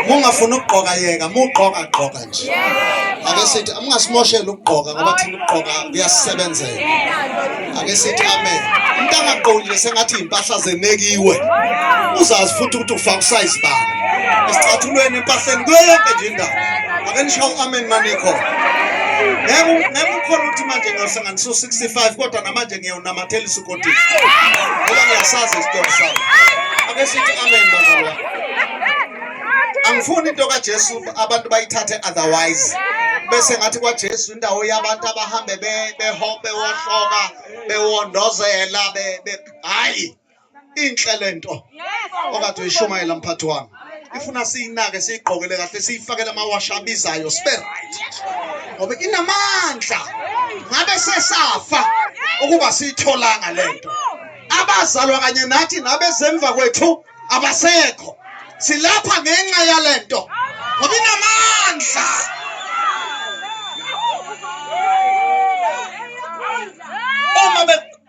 mungafuni ukugqoka yeka mugqoka gqoka nje ake sithi mungasimoshela ukugqoka ngoba thina ukugqoka kuyasisebenzela ake sithi amen umuntu angagqokile sengathi iy'mpahla zenekiwe uzazi futhi ukuthi ufaka usayizi bani esicathulweni empahleni kuyo yonke nje indawo ake nisho u-amen manikhona ngeke ukhona ukuthi manje ngosena ngisu 65 kodwa namanje ngiyawunamathela isukothi ngoba ngiyasazi isitori sami ake sithi amen bazalwa angifuni into kaJesu abantu bayithathe otherwise bese ngathi kwaJesu indawo yabantu abahambe behope wohloka bewondozela be hayi inhle lento okade uyishumayela mphathi wami ifuna siyinake siyigqokele kahle siyifakele amawasha abizayo sibe right ngoba inamandla ngabe sesafa ukuba siyitholanga lento abazalwa kanye nathi nabezemva kwethu abasekho silapha ngenxa yalento ngoba inamandla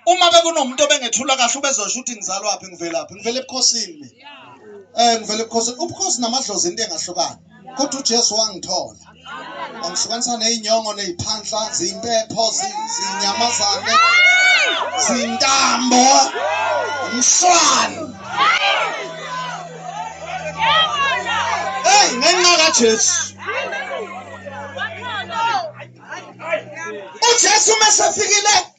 uma bekunomuntu obengethula kahle ubezosho ukuthi ngizalwaphi ngivelaphi ngivela ebukhosini mina eh ngivela ebukhosini ubukhosi namadlozi into engahlukani kodwa uJesu wangithola wangihlukanisa nezinyongo neziphanhla zimpepho zinyamazane zintambo umshwana hey ngenxa kaJesu uJesu mesefikile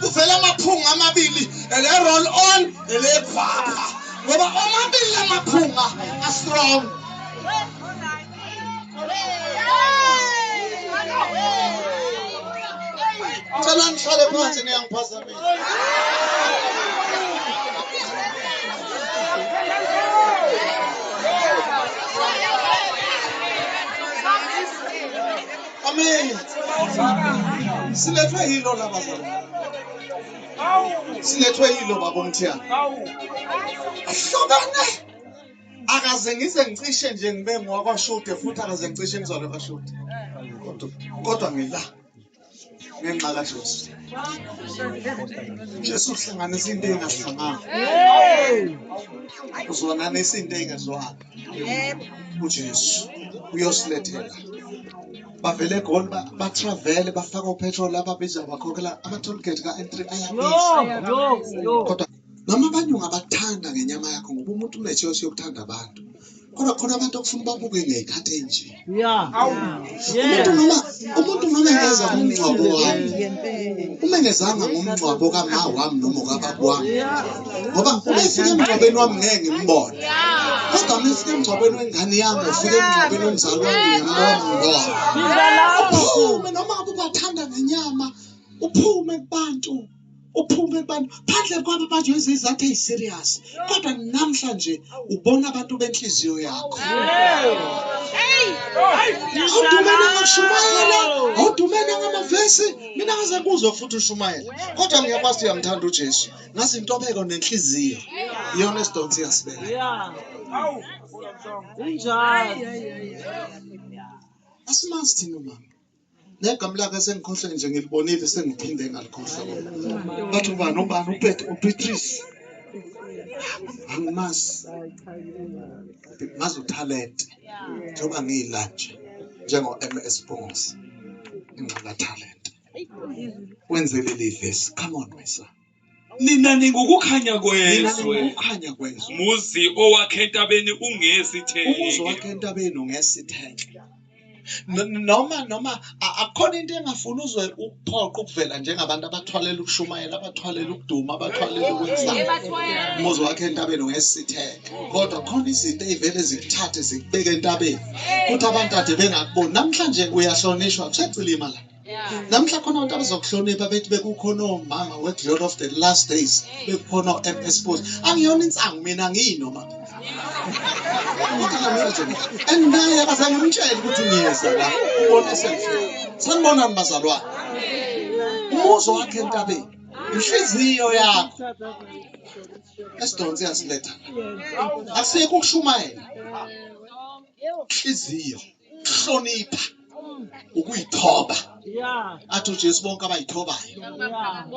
kuvela amaphunga amabili ele roll on ele vapha ngoba omabili amaphunga a strong Cela ngihlale phansi niyangiphazamisa Amen. Silethwe yilo laba zona. Silethwe yilo baba umthiyana. Ahlobane. Akaze ngize ngicishe nje ngibe ngwakwashude futhi akaze ngicishe ngizole kwashude. Kodwa kodwa ngila ngenxa kaJesu. Jesu uhlanganisa into engahlangani. Uzwana nesinto engezwani. ujesu uyosilethela bavele egoli batravele bafaka upetrol ababiza bakhokhela ama-tollgate ka-n3 ayabizakodwa noma abanyungu abathanda ngenyama yakho ngoba umuntu unetshesi yokuthanda abantu kodwa khona abantu okufuna babuke ngey'khathi enje umuntu noma umuntu noma engeza ngomngcwabo wami uma engezanga ngomngcwabo kama wami noma kababa wami ngoba uma efika emngcwabeni wami ngeke ngimbone kodwa uma efika emngcwabeni wengane yami ufika emngcwabeni womzali wami ngiyambona ngibona uphume noma ubathanda ngenyama uphume kubantu uphume kubantu phandle kwabo manje wenza izathu eyi-serious kodwa namhlanje ubona abantu benhliziyo yakho awudumene ngashumayela awudumene ngamavesi mina ngaze kuzwa futhi ushumayela kodwa ngiyakwazi uyamthanda ujesu ngazi intobeko nenhliziyo iyona esidonsi yasibeka asimasi thina umama negama lakhe sengikhohlwe nje ngilibonile sengiphinde ngalikhohlwa bathi ubani ubani upet ubeatrice angimazi ngazi uthalente njengoba ngiyila nje njengo-ms bongos ingxaka thalente wenzelelidlesi come on my son nina ningukukhanya kwezwe ukukhanya kwezwe muzi owakhe entabeni ungesitheke umuzi wakhe entabeni ungesitheke noma noma akukhona into engafuni uzwe ukuphoqa ukuvela njengabantu abathwalela ukushumayela abathwalela ukuduma abathwalela ukwenza umuzi wakhe entabeni ungesitheke kodwa khona izinto eyivele zikuthathe zikubeke entabeni kuthi abantu ade bengakuboni namhlanje uyahlonishwa kusecilima la namhla khona abantu abazokuhlonipha bethi bekukhona omama we-glory of the last days bekukhona o-m s post angiyona insangu mina ngiyinoma and naye akazange mtshele ukuthi ngiyeza la ubona esenhle sanibonani bazalwane umuzo wakhe entabeni inhliziyo yakho esidonse yasiletha asiyeke ukushumayela inhliziyo ukuhlonipha ukuyithoba athi ujesu bonke abayithobayo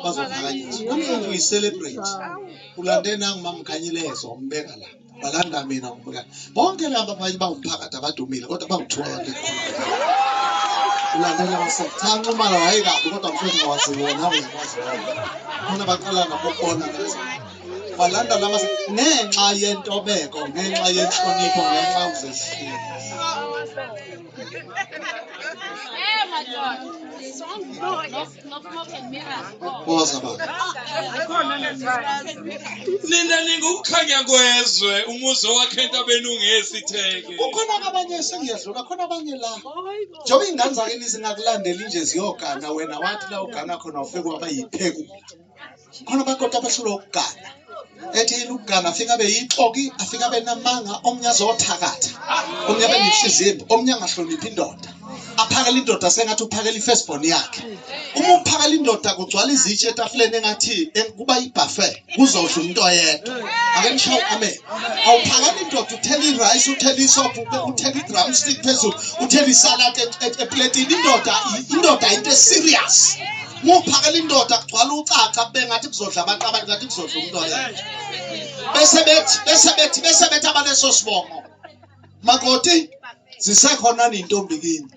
bazophakanyiswa kumfunga uyicelebrate ulande nangu mamkhanyilezo umbeka la balanda mina umbeka bonke laba abanye bangumphakathi abadumile kodwa bangithuka abantu ulandela wasetanxa umala wayekabi kodwa mfethu waziwona uyakwazi khona baqala nabokubona walanda lama ngenxa yentobeko ngenxa yenhlonipho ngenxa uzehlile Boza baba. Nina ningukukhanya kwezwe umuzi owakhe entabeni ungesitheke. Kukhona abanye sengiyadlula khona abanye la. Njengoba ingane zakini zingakulandeli nje ziyogana wena wathi la ugana khona ufike waba yiphekula. khona bakoti abahlulwa ukugana ethi yini ukugana afike abe yixoki afike abe namanga omnye azothakatha omnye abe nehliziyo omnye angahloniphi indoda aphakela indoda sengathi uphakela i-firstborn yakhe uma uphakela indoda kugcwala izitshe etafuleni engathi kuba yi-buffet kuzodla umuntu oyedwa ake nishaye amen awuphakela indoda uthela i-rice uthela isophu uthela i-drum stick phezulu uthela isalad e-, e-, epletini indoda indoda into e-serious muphakela indoda kugcwala ucaca kube ngathi kuzodla abantu abantu ngathi kuzodla umuntu oye bese bethi bese bethi bese bethi abaleso sibongo makoti zisekhona nintombi kini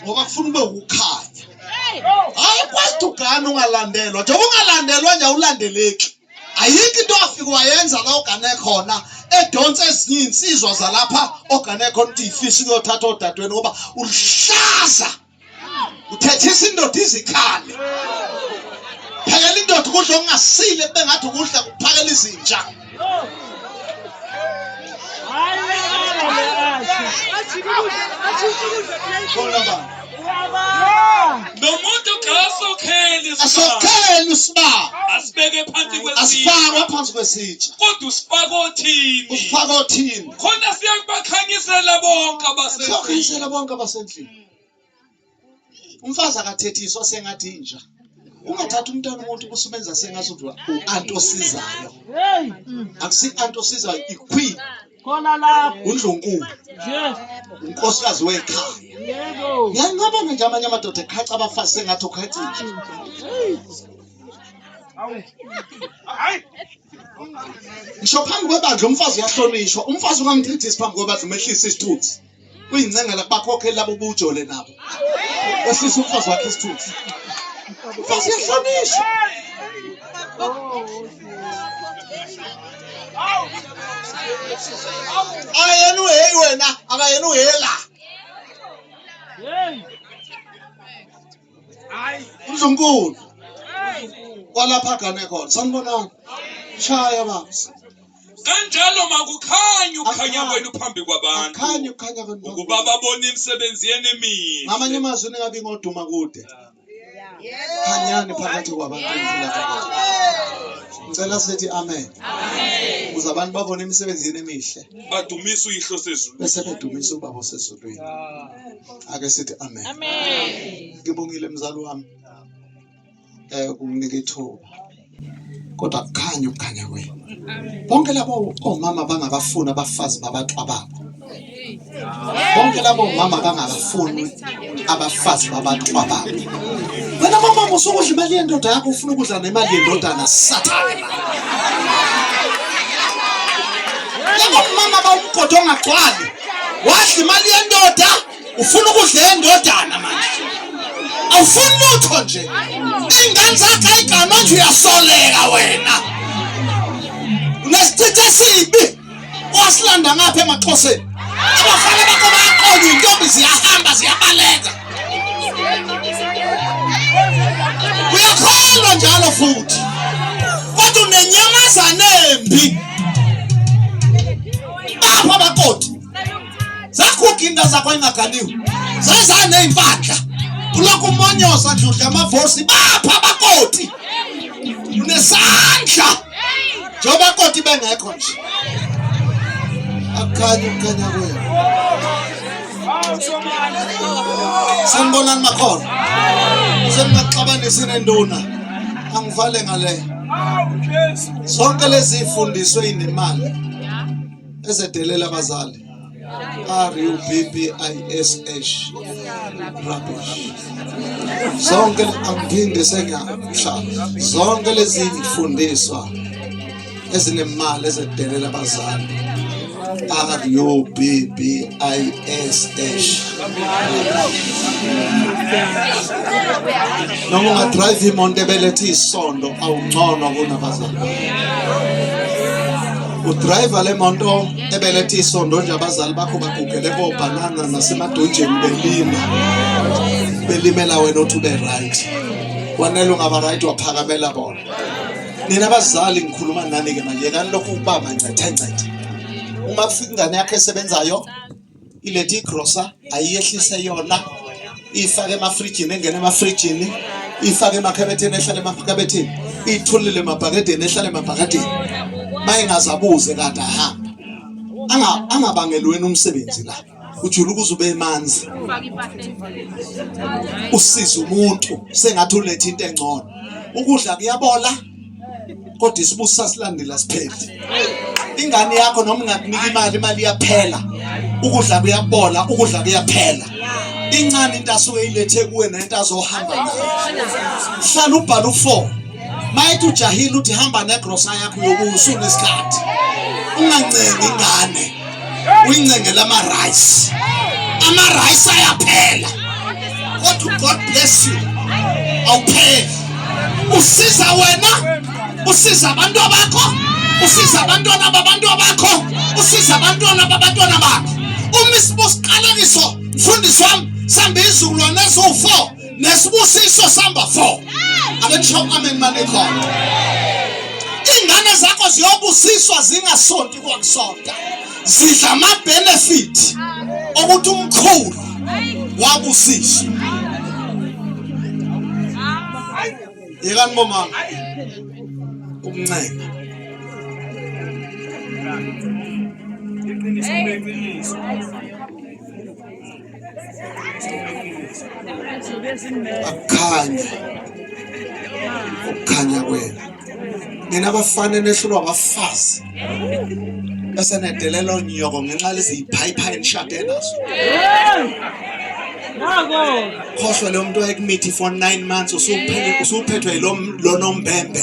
ngoba kufuna ube ukukhanya hayi kwesti ugane ungalandelwa njengoba ungalandelwa nje awulandeleki ayikho into afike wayenza la ogane khona edonsa ezinye iy'nsizwa zalapha ogane khona ukuthi yifisa ukuyothatha odadweni ngoba ulihlaza uthethisa indoda izikhali phakela indoda ukudla okungasile kube ngathi ukudla kuphakela izinja nomuntu kasokheli asokheli usibaba asibeke phansi asifakwe phansi kwesitsha kodwa usifaka othini usifaka othini khona siyakubakhanyisela bonke abasendlini siyakhanyisela bonke abasendlini umfazi akathethiswa sengathi inja ungathatha umntana umuntu kusumenza sengathi u-anti osizayo akusi-anti osizayo iqueen khona lapho undlunkulu unkosikazi wekhaya ngiyancabanga nje amanye amadoda ekhaca abafazi sengathi okhacinje ngisho phambi kwebandla umfazi uyahlonishwa umfazi ungamchithisi phambi kwebandla umehlisa isithunzi uyincengela bakhokhe labo bujole nabo esisa umfazi wakhe isithunzi mfazi yahlonishwa akayena uheyi wena akayena uhela hayi uNdlunkulu kwalapha gane khona sanibonani shaya bafo kanjalo makukhanye ukukhanya kwenu phambi kwabantu akhanye ukukhanya kwenu ukuba babone imisebenzi yenu emihle ngamanye amazwi ningabi ngoduma kude khanyani phakathi kwabantu ngicela sithi amen ukuze abantu babone imisebenzi yenu emihle badumise uyihlo sezulu bese bedumisa ubaba osezulwini ake sithi amen amen ngibongile mzali wami eh unginike ithuba kodwa kukhanya ukukhanya kwenu bonke labo omama bangabafuni abafazi babantu ababo bonke labo mama bangabafuni abafazi babantu ababo wena mama usukudla imali yendoda yakho ufuna ukudla nemali yendodana sathane labo mama bawumgodo ongagcwali wadla imali yendoda ufuna ukudla yendodana manje awufuni lutho nje iy'ngane zakhe ayigama manje uyasoleka wena unesithithi esibi wasilanda ngapha emaxhoseni abafana bakho bayaqonya iy'ntombi ziyahamba ziyabaleka uyakholwa njalo futhi kodwa unenyamazane embi Bafo amakoti. Zakhukha inda zakho ingagaliwe. Zaza nezimpahla. Kulokhu umonyosa nje udla amavosi bapha amakoti. Unesandla. Njengoba koti bengekho nje. Akhanye ukukhanya kwenu. Sanibonani makhona. Sengingaxabanisi nenduna. Angivale ngale. zonke lezi ifundiswe inemali ezedelela abazali R U B B I S H rubbish zonke angiphinde sengiyakusha zonke lezi ifundiswa ezinemali ezedelela abazali R U B B I S H. Noma ungadrive imoto ebelethe isondo awungcono kunabazali. Udriver le moto ebelethe isondo nje abazali bakho bagugele kobhanana nasemadunjeni belima. Belimela wena othi ube right. Wanele ungaba right waphakamela bona. nina abazali ngikhuluma nani ke manje yekani lokhu ukubamba ncethe ncethe uma kufika ingane yakho esebenzayo ilethe igrosa ayiyehlise yona ifake emafrijini engene emafrijini ifake emakhabetheni ehlale emakhabetheni iyithulile emabhakedeni ehlale emabhakedeni mayengazabuze kade ahamba angabangelweni umsebenzi la ujula ukuze ube manzi usiza umuntu sengathi ulethe into engcono ukudla kuyabola kodwa isibusi sasilandela sipheli ingane yakho noma ungakunika imali imali iyaphela ukudla kuyabola ukudla kuyaphela incane into asuke ilethe kuwe nento azohamba nayo hlala ubhala u4 mayethi ujahile uthi hamba negrosa yakho yokuwusuna isikhathi ungancengi ingane uyincengela ama-rice ama-rice ayaphela kodwa god bless you awupheli usiza wena usiza abantu abakho usiza abantwana babantu abakho usiza abantwana babantwana bakho uma isibusiqalekiso mfundisi wami sambe izizukulwane eziwu-four nesibusiso samba 4 abetsho amen manikhona ingane zakho ziyobusiswa zingasonti kwakusonta zidla ama-benefit okuthi umkhulu wabusiswa yekani bomama ukuncenga iqiniso akukhanye ukukhanya kwenu nina abafana nehlulwa abafazi esenedelelo nyoko ngenxa leziyiphayiphaya enishade nazo khohlwa leyo mntu wayekumithi for nine months usuphethwe yilonombembe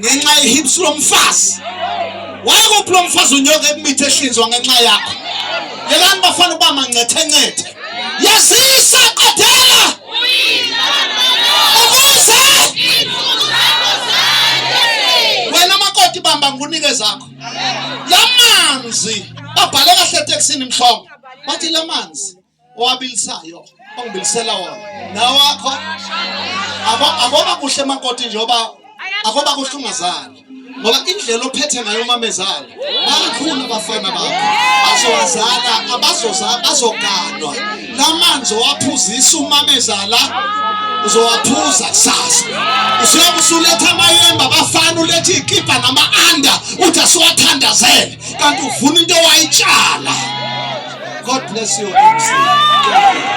ngenxa yehips lomfazi wakuphi lo mfazi unyoka emithi ehlinzwa ngenxa yakho yekani bafana uba mancethencethe yazisa qedela ukuze wena makoti bamba ngunike zakho lamanzi babhale kahle etekisini mhlongo bathi lamanzi owabilisayo ongibilisela wona nawakho akoba kuhle makoti njengoba akoba kuhle ungazali ngoba indlela ophethe ngayo umamezala bakhulu abafana bakho bazowazala abazoza bazoganwa lamanzi owaphuzisa umamezala uzowaphuza kusasa usuyobe usuletha amayemba abafana ulethe ikipa nama-anda uthi asiwathandazele kanti uvuna into wayitshala god bless you MC.